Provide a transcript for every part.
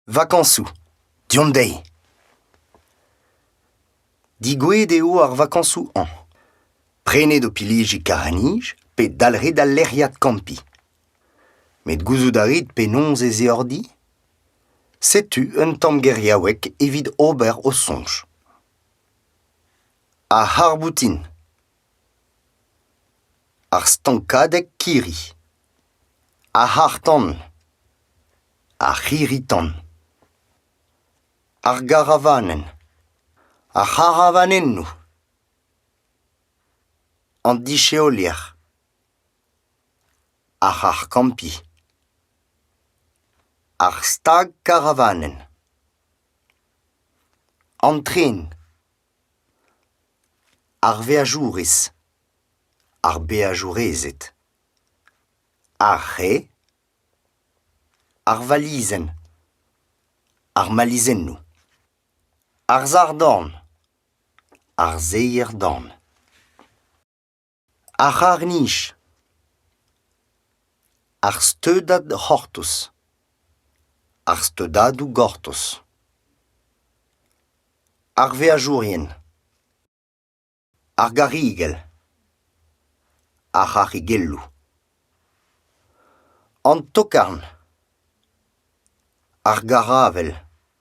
Vakañsoù deomp dezhi. Digouet eo ar vakañsoù hañ. Prenet ho piliji kar an nij pe dalc'het al lec'hiad kampiñ. Met gouzout a rit penaos ez eo ordi? Setu un tamm geriaoueg evit ober ho soñj. Ar c'harr-boutin Ar stankadeg kirri, ar c'harr-tan, ar c'hirri-tan, ar garavanenn, ar c'haravanennoù, an disheolier, ar c'harr-kampiñ, ar stag-karavanenn, an tren. Ar veajourez, ar beajourezed, ar c'hae, ar valizenn, ar malizennoù, ar sac'h-dorn, ar seier-dorn. Ar c'harr-nij. Ar steudad c'hortoz. Ar steudadoù gortoz. Ar veajourien. Ar garrigell. Ar c'harrigelloù. An tokarn. Ar garavel.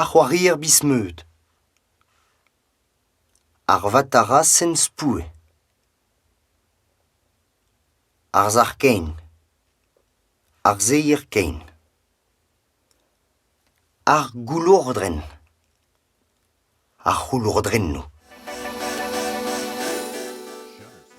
Ar c'hoarier biz-meud. Ar vatarasenn spoue. Ar sac'h-kein. Ar seier-kein. Ar goulourdrenn. Ar c'houlourdrennoù.